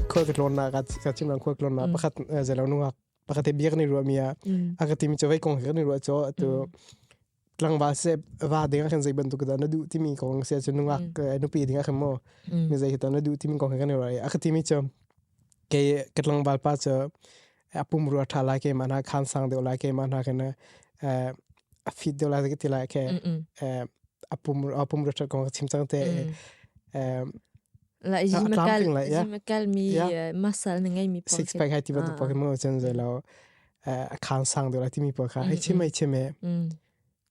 khoi ka tlonnak ka chim lang khoi tlonnak pakhat zelo nungak pakhat bia kan i ruah mi a a ka timi chu vei kong kan i ruah cho tu tlangba se va ding kan zei bantuk da na du timi kong se chu nungak nupi ding a mo mi zei ta na du timi kong kan i ruah a ka timi chu ke ka tlangba pa chu apum ru tha lai ke ma na khan sang deuh lai ke ma na ke na fit deuh lai ke ti lai ke apum apum ru tha kong chim chang te la jimekal jimekal mi muscle na ngai mi six pack hai ti ba tu pokemon chen je lo a khan sang deuh lai ti mi po kha hai chim mai chim e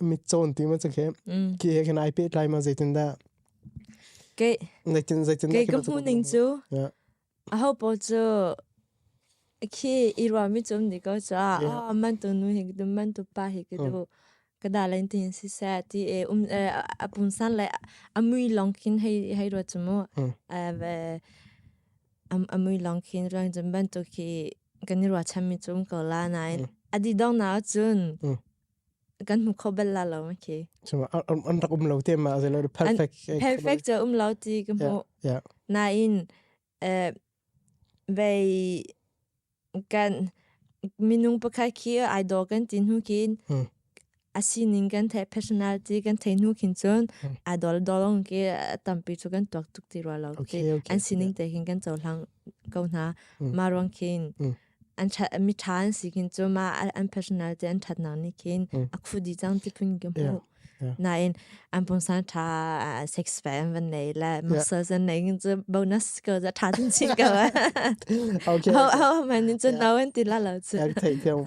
mit cawn ti ma cakhe ke he khin ai pe tlai ma zeitin dah ke zeitin zeitin ke ka hmu ning chu a ho po chu khi irwa mi chum ni ko cha a man tu nu hi dum man tu pa hi ki du kada len tin si sa ti e um a pun san le amui long khin hei hei ro chumu ve amui long khin rang jum ban tu khi kan irwa cham mi chum ko la nai adi dong na chun kan hmu kho bal la lo okay so an an rak um lo te ma ze lo perfect perfect cha um lo ti ka hmu yeah na in eh bei kan minung pakai khi idol kan tin hu kin asining kan the personality kan thei nu khin chun idol dolong ke tampi chu kan tok tuk ti ro lo an sining te hin kan chau hlang ko na ma rong khin an that mi tha an si kin chu ma an personal te an that nang ni kin a khu di chang ti phun ki mu na in an pung san tha sex fam van nei la muscles an nei kin chu bonus ko za tha tin chi ko okay how how man in chu now en ti la lo chu ya thei theu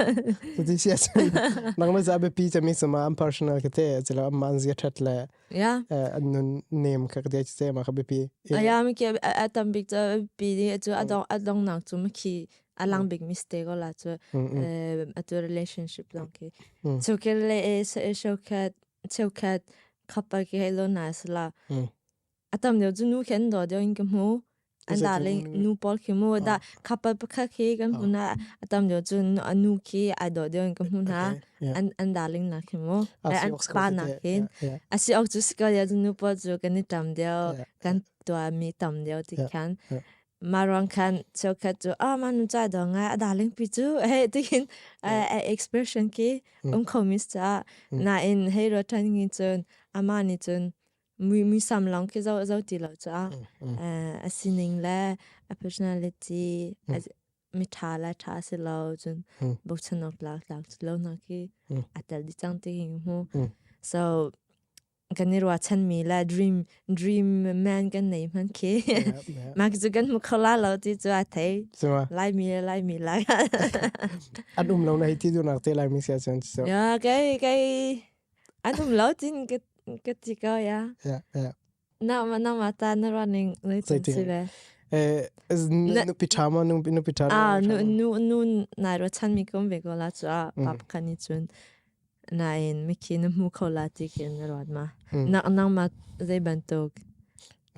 tu ti sia nang ma za be pi chami sama am personal ke te chela am man zia that la Yeah. an nun nem ka de se ma ka bipi aya mi ke atam big to pi di chu adong adong nak chu mki alang big mistake ola chu atu relationship long ki so ke le so kat so kat khapa ke lo na sala atam de chu nu ken do de in ke mu an da le nu pawl khi mu da couple pakhat khi kan hmu na atam jo chu a nu khi ai do de kan hmu na an an darling na khi mu an pa na hin asi ok chu skill ya nu pa chu kan ni tam de kan to mi tam de ti khan marong khan cheu khat chu a ma nu cha dong a darling pi chu he ti hin expression ki um khomis cha na in he ro than ni chun ama ni chun muisam lawng ki zoh zoh ti lo cuah a sining le a personality mi ṭha le ṭha si lo cun bochanok tlak tlak cu lo na ki a tel di cang ti king hmu so kan i ruachan mi le dream dream man kan nei hman khi mak cu kan mu khola lo ti cu a thei lai mi lai mi lai an um lo na hi ti du nak te lai mi sia chan so ya kai kai an um lo cin ka ka ti ko ya Yeah, yeah. na ma na ma ta na running le Zei tin ti- si le Eh, Na- nupi ṭha ma nupi nupi ṭha a nu nu nu nai ro chan mi kom ve ko la chu a pap Mhm. kan ni chun na in mi ki na mu ko la ti ke na ron ma Mm. na na ma zai ban tok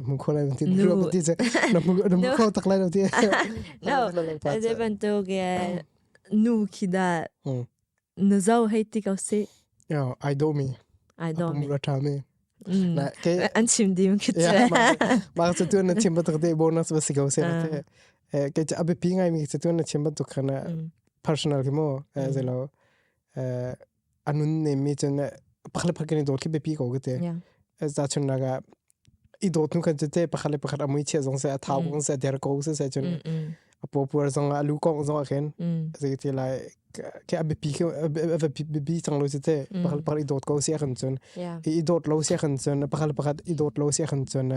Mu kho lai ti Nu. ro ti je na mu na mu Nu. kho tak lai lo ti No. zai ban tok ge nu ki da na zo hei ti ko si yo ai do mi ai do mi ra tha mi na ke an chim dim ki che ma ka tu na chim ba tak de bonus ba si ko se na te ke cha abi pi ngai mi se tu na chim ba tu khana personal ki mo ze lo anun ne mi chen pakhle phakani dol ki be pi ko ke te za chun naga i dawt nu kan cece pakhat le pakhat amui chia zong se a thau kong se der ko se se chun a popur zong a lu kong zong a ken se ti lai ke a bipi ke a bipi chang lo cece pakhat pakhat i dawt ko se kan chun i dawt lo se kan chun pakhat pakhat i dawt lo se kan chun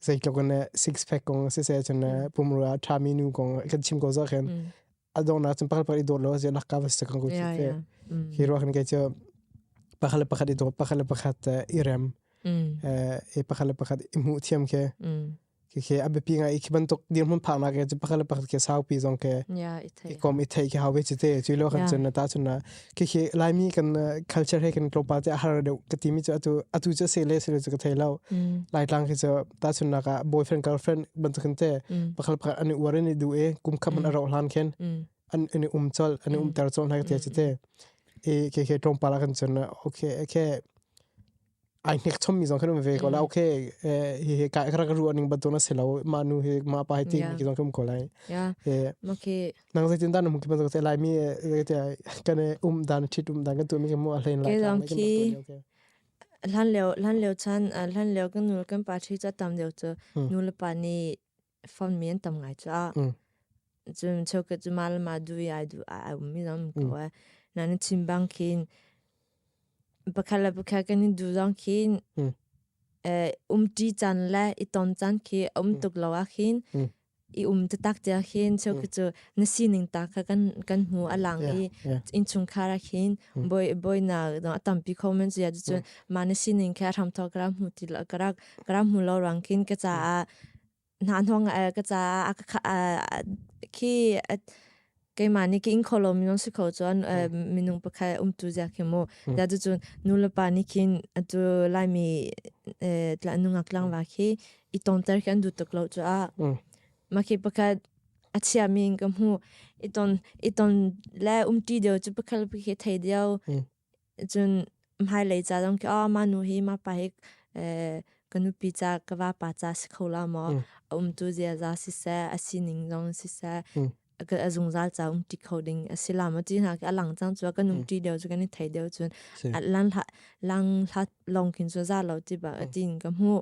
zei ko ne six pack kong se se chun pumru a thami nu kong kan chim ko za ken adongnak cun pakhat pakhat i dawt lo zianak ka va si kan ku chi te hi ro kan ke chu pakhat le pakhat i dawt pakhat le pakhat i rem e pakhat le pakhat i mu thiam ke ke ke a bipi nga i khi bantuk dir mun phak na ke chu pakhat le pakhat ke saupi zong ke i kom i thei ke hawe chi te chu lo kan chun na ta chun na kikhe laimi kan culture he kan klopa te har deu ka ti mi chu atu atu chu se le se le chu ka thei lo lai tlang khi chu ta chun na ka boyfriend girlfriend ban tu kan te pakal pa ani war ni du e kum kham an ro hlan khen an ani um chol ani um ter chol na ka ti chu te e ke ke tong pa la kan chun okay okay ai hnek chom mi zong kan um ve ko la okay eh hi hi ka ka rak ru ning batun asilo ma nu hi ma pa hi ti Yeah. mi zong kan um ko lai ya eh okay nang zeitin dan um ki ban se lai mi te kan um dan thit um dan kan tu mi ke mo a hlain lai Okay, ka long mai kan ki. tu ni, okay. hlan leo hlan leo chan ah, hlan leo kan nu kan pa thi cha tam deu chu Hmm. nu le pa ni phone mi an tam ngai cha cun cheuka cu ma le ma du i ai du ai um mi zong ko e na ni chim bang khin pakhat le pakhat kan i du zong khin um ṭi can le i ton can khi um tuk lo ah khin i um te tak tia khin cheuka cu na sining ta kha kan kan hmu alang i in chungkhar a khin boi boi na dong atampi khomen zu ya cun ma na sining kha ram thok ra hmu ti la karak ka ram hmu lo rang kin ka caah hna hnong uh, ka caah a khi keimah nih king kho lo minung si kho chuan minung pakhat um tu zia khi mu da tu chun nu le pa ni khin atu lai mi tla nungak langwa khi i tong tar khan du tuk lo chu a ma khi pakhat achia min ka mu i ton i ton le um ti deu chu pakhat pakhat thei deu Cun hmailei ca zong khi manu hi mapa hi ka nupi ca ka vapa ca si kho la maw. A umtu ziaza siseh a sining zong siseh a zungzal ca umti kho ding a si la maw. Ti hna khi a lang cang cun kan umti deuh cun kan i thei deuh cun. Lang hlat lawng khin cu za lo ti bak a ti in ka hmuh.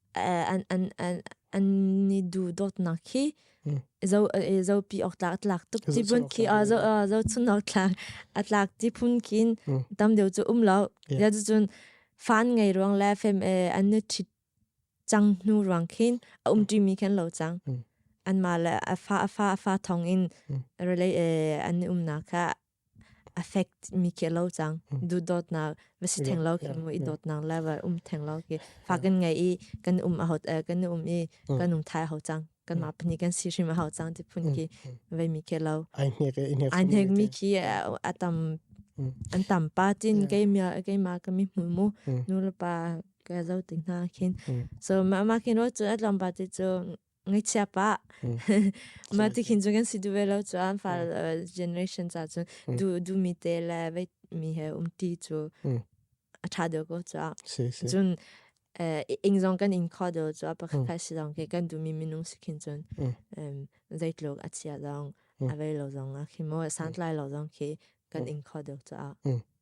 an ni duhdawtnak hi zopi awk tlak a tlak tuk ti bun khi zochun awk tlak a tlak ti phun kin tamdeu cu umlo ya cu cun fan ngai ruang le fem an ni thit cang hnu ruang khin a umti mi khan lo cang an ma le a fa a fa a fa thong in relay an ni umna kha affect mi ke lo cang du dot na va si theng lo ke mu i dot na level um theng lo ke fakin ngai i kan um a hot kan um i kan um thai ho cang kan ma pani kan si shim hau cang ti phun ki ve mi ke lo ai ne ke ne ai ne mi ki atam an tam pa tin ke mi ke ma ka mi mu mu nu la pa ka zo ting na khin so ma ma kin ro chu alam ba ti chu Ngaichia pa. Ma ti khin cu kan si duve lo chuan fa generation cha cun du du mi te le vei mi he um ti cu a tha deuh ko chuak. Cun ing zong kan in kho deuh chuak pakhat kai si dong ke kan du mi minung si khin cun zeitluk a chia dong a vei lo zong a khi mo a santlai lo zong khi kan in kho deuh chuak.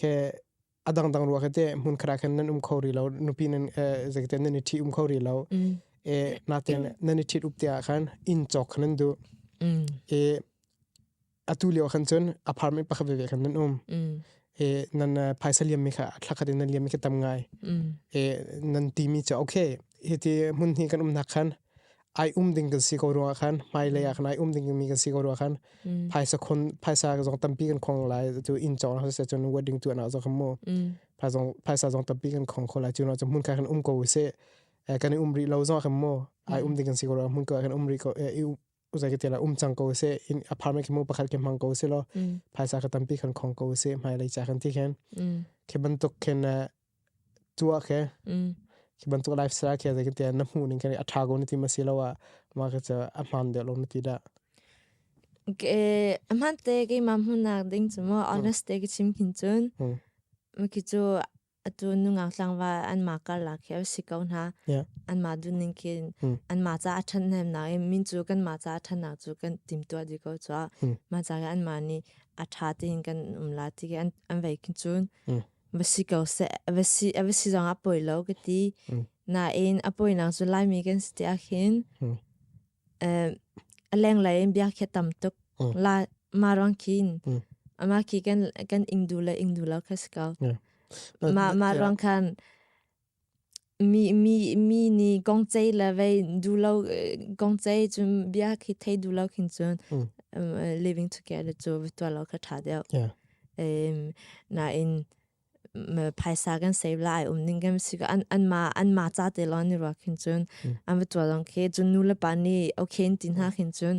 ke adangdang ruwa ke te hmun khara khan nan um kho ri lo nupi nan zekte nan i thi um kho ri lo e naten nan i thi up te khan in chok khan du e atu leo khan chun apartment pakhat ve khan nan um e nan phaisa liam mi kha thlakhat nan liam mi ka tam ngai e nan ti mi cha okay hiti hmun hi kan um nak khan ai um ding kan si ko rua khan hmai lei ah khan ai um ding mi kan si ko rua khan phaisa khon phaisa zong tampi kan khong lai chu in chong ho se chun wedding tu na zo kham mo pha zong phaisa zong tampi kan khong kho lai chu na chu mun ka kan um ko se kan um ri lo zong kham mo ai um ding kan si ko rua mun ka kan um ri ko uzai ke tela um chang ko se in apartment ke mo pakhat ke mang ko se lo phaisa ka tampi kan khong ko se hmai lei cha kan ti khen ke bantuk khen Tuah khe khi bantuk lifestyle khi zeitin tiah na hmuh ning khin a ṭha ko na ti masiloah market cu a hmaan deuh lo na ti dah? A hmaan te keimah hmuhnak ding cu maw honest te ka chim khin cun khi cu atu nungak tlangval anmah karlak khi a si ko hna. Anmah duhning khin anmah ca a ṭhathnemnak i min cu kanmah ca a ṭhatnak cu kan timtuah dih ko cuah. Mah ca khi anmah nih a ṭha tein kan um la ti khi an vei khin cun. va si ko seh, va si, va si zong a poi lo ka ti. Nain a poi nang cu laimi kan si ti ahhin a lenglei in bia khi tam tuk. La ma rang khin, ama khi kan ingdu le ingdu lo kha si ko. Ma, ma rang khan Mi, mi, mi nih gongcei le vei dulo gongcei cun bia khi thei dulo khin cun living together cu vitualo ka ṭha deuh. Nain phaisa kan save lai um ning kan si an anmah anmah ca te lawng ni ruak khin cun an vitualong khi cun nu le pa nih okay in ti hna khin cun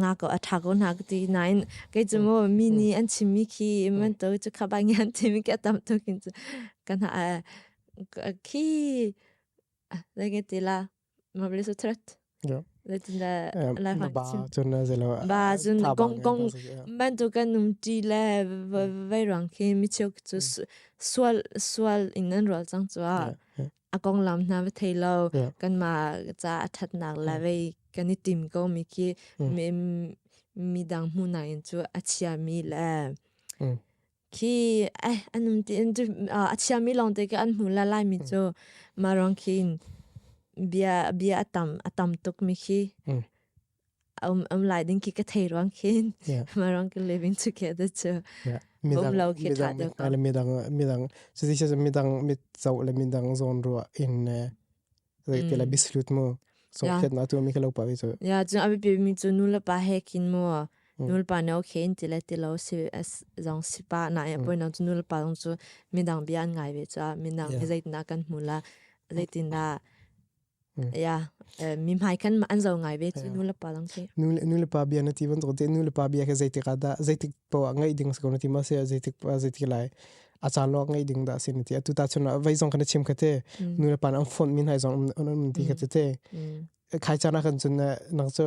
ngako a tha ko hna ti nain kei cu mo mi nih an chimmi khi man to cu kha bang an chimmi khi a tam tuk hin cu kan ha khi like ti la ma bari so thret Latinda life ba cun na zelo ba cun kong kong ban tu kan num ti le vai ruang khi mi chuk chu sual sual in an rol chang chua a konglam hna va thei lo kanmah ca a thatnak la vei kan i tim ko mi khi mi dang hmu na in cu a chia mi le khi eh anum ti in tu a chia mi long te ke an hmu la lai mi chu ma rong khin bia bia a tam a tam tuk mi khi um um lai ding ki ka thei ruang khin ma rong ki living together to bom lo ki tha de ko midang midang so this is midang mit zo le midang zon ru in like te la bislut mu so khet na tu mi khalo pa wi so ya jun abi bi mi chu nul pa he kin mu nul pa no khe in tile ti lo si as zong si pa na ya poi no chu nul pa dong chu midang bian ngai we cha midang hi zait na kan mula zaitin na Ja, mi hmai kan ma an zo ngai ve ti nu le pa lang te. Nu nu le pa bia na ti van zo te nu le pa bia ke zeitik ada zeitik po ngai ding ko na ti ma se zeitik zeitik lai acha lo ngai ding da sin ti atu ta chuna vai zong kana chim kate nu le pa an phone min hai zong an ti kate te khai chana kan chun na nang cho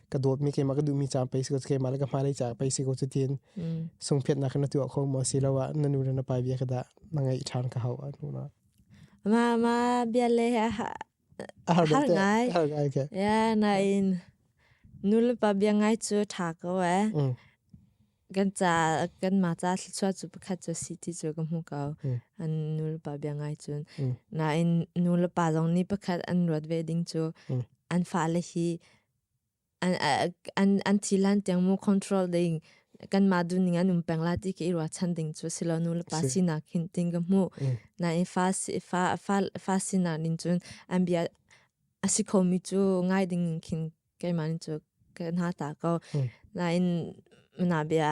ka dawtmi keimah ka duhmi ca pei si ko keimah le ka hmailei ca pei si ko cu tiin mm. sungphiat nak na tuah kho mo si lo ah na nu le na pa bia ka da na ngei ṭhan ka hau a nu na ma ma bia le ha har ngai har ngai ke ya na in nu le pa bia ngai chu ṭha ko e mm. kan cha kan ma cha thluchua chu pakhat chu si ti chu ka hmu ko an nu le pa bia ngai chun na in nu le pa zong ni pakhat an ruat ve ding chu an fa le hi an ti lan tiang mu control ding kanmah duning an um peng la ti ke irua chan ding chu silo nu le pa sinak hin ting ka mu na i fa fa fa sinak nin cun an bia asi khomi chu ngai ding khin keimah nin chu kan ha ta ko na in na bia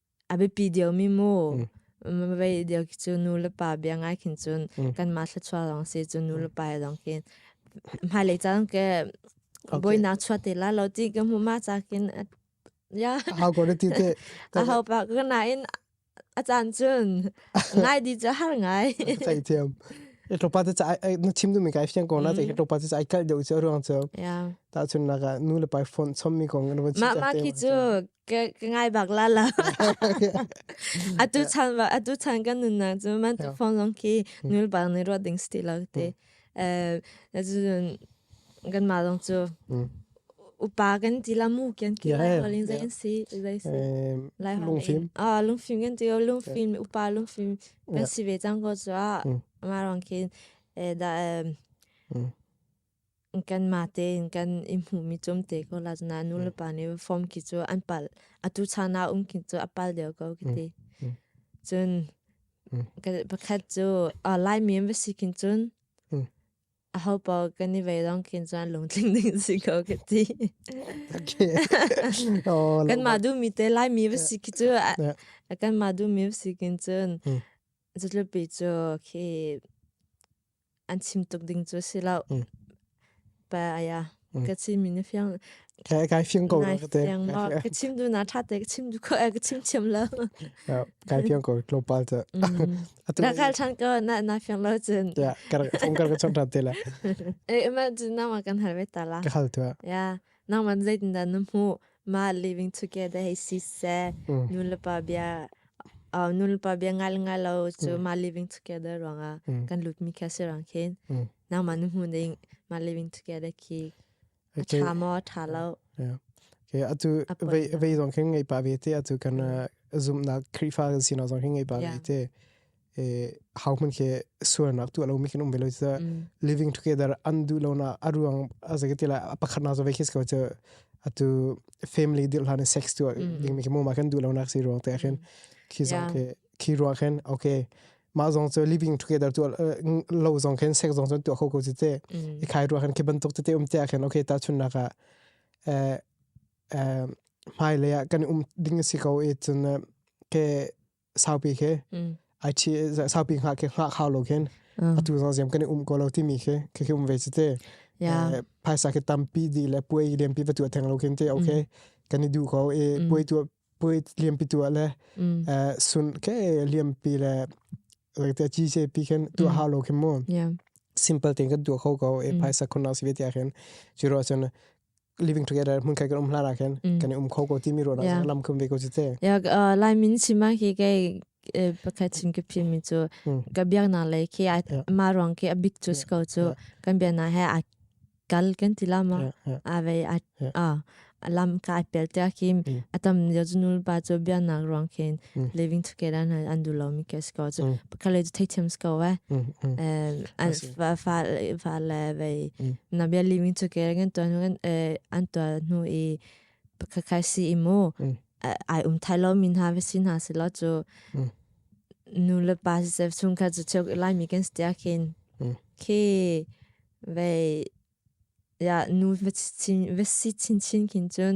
A biapi deuh mi mu. Mavei deuh cu nu le pa bia ngai khin cun kanmah thluachuah lawng si cun nu le pa lawng khin. Hmailei caan ke boinak chuah te la lo ti ka hmu ma ca khin. Ya. Ahau ko ti te. Ahau pak ka nain a caan cun ngai di cu har ngai. Fei thiam. E topa te ca na chim tu mi kai fiang ko na te e topa te ca i kal deuh cu ruang cu. Ya. Ta chun naka nu le pa phone chom mi kong na van chim. Ma ma ki cu ka ngai bak la la atu chan ba atu chan kan nun na chu man tu phone long ki nul bang ni ro ding sti lo te eh ju kan ma long chu upa kan ti la mu ken ki lai holin zain si zai si lai hong film ah lung film kan ti lung film upa lung film kan si ve chang ko chu ma rong kin da Kanmah tein kan i hmuhmi cumte ko la cuna nulepa nih form ki cu an pal atu chan ah um ki cu a pal deuh ko kiti. Cun pakhat cu Laimi va si kin cun a hopa kan i vei dong kin cun lungtling ding si ko kiti. Kanmah duhmi te Laimi va si ki cu kanmah duhmi va si kin cun cutluppi cu khi an chim tuk ding cu si lo pa aya ka chim mi na fiang ka kai fiang ko ka te ka chim du na tha te ka chim du ko ka chim chiam lo kai fiang ko tlo pal ta na kal than ko na na fiang lo chen ya kar ong kar ka chong tha te la eh ma jin na ma kan hal ve ta la ka hal tu ya nangman zeitindah na hmuh mah living together hei si seh mm. nulepa bia uh, nulepa bia ngai le ngai lo cu mm. ma living together ruangah mm. kan lutmi kha si rang khin mm. nangman na hmu ding ma living together khi a tha mo tha lo Okay, atu ve zong khin ngai pa ve te atu kan zumna krifa sin zong khin ngai pa ve te hokhman khe suarnak tu lo mi kan um ve lo cha living together an du lo na aruang azagi tila pakhat na zo ve khis ko cha atu family dil hlan sex tu ding mi mo ma kan du lo nak si ruang te khen khi zong khe khi ruang khen okay ma zong cho living together tu lo zong khen sex zong chon tu kho ko chi te i khai ruang khen ke ban tok te um te khen okay ta chun na ka eh eh mai le kan um ding si ko e chun ke saupi khe ai chi saupi nga ke nga khao lo khen atu zong ziam kan um ko lo ti mi khe khe um ve chite phaisa ke tampi di le puai liam pi patu theng lo khen te okay kan i du ko e puai tu puai liam pi tu le sun ke liam pi le te chi se pi khen tu ha lo khen mo simple thing kan du ko ko e phaisa khon na si ve ti khen chiro chen living together mun kai kan um hlara khen kan um kho ko ti mi ro na lam khum ve ko ti te ya lai min sima hi ke pakhat chin ke phi mi chu ka biak na lai ke ma rong ke abik chu sko chu kan bia na ha kal kan tila ma ave a lam ka pel te kim atam yajnul ba chu bia nak rong khen living together na andu lo mi ke sko chu ka le thei thiam sko ve an fa fa fa le vei na bia li min chu ker gen to nu gen an to nu i ka kai si i mu ai um thai lo min ha ve sin ha se lo chu nu le pa se chung ka chu chok lai mi ken stia kin ke vei ya nu ve chin ve si chin chin kin chun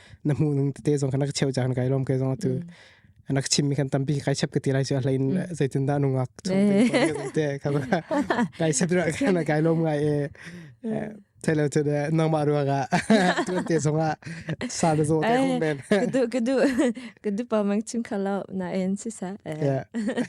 na hmuh ning tete zong kan rak cheu caan kai lom kai zong tu nak chim mi kan tampi kai chep ka ti lai chu a hlain zei tin da nungak chung te kan kai chep ra kan kai lom ngai e thelo to de nangma ru ga tu te zonga sa da zo te hum ben kudu kudu kudu pa mang chim khala na en si sa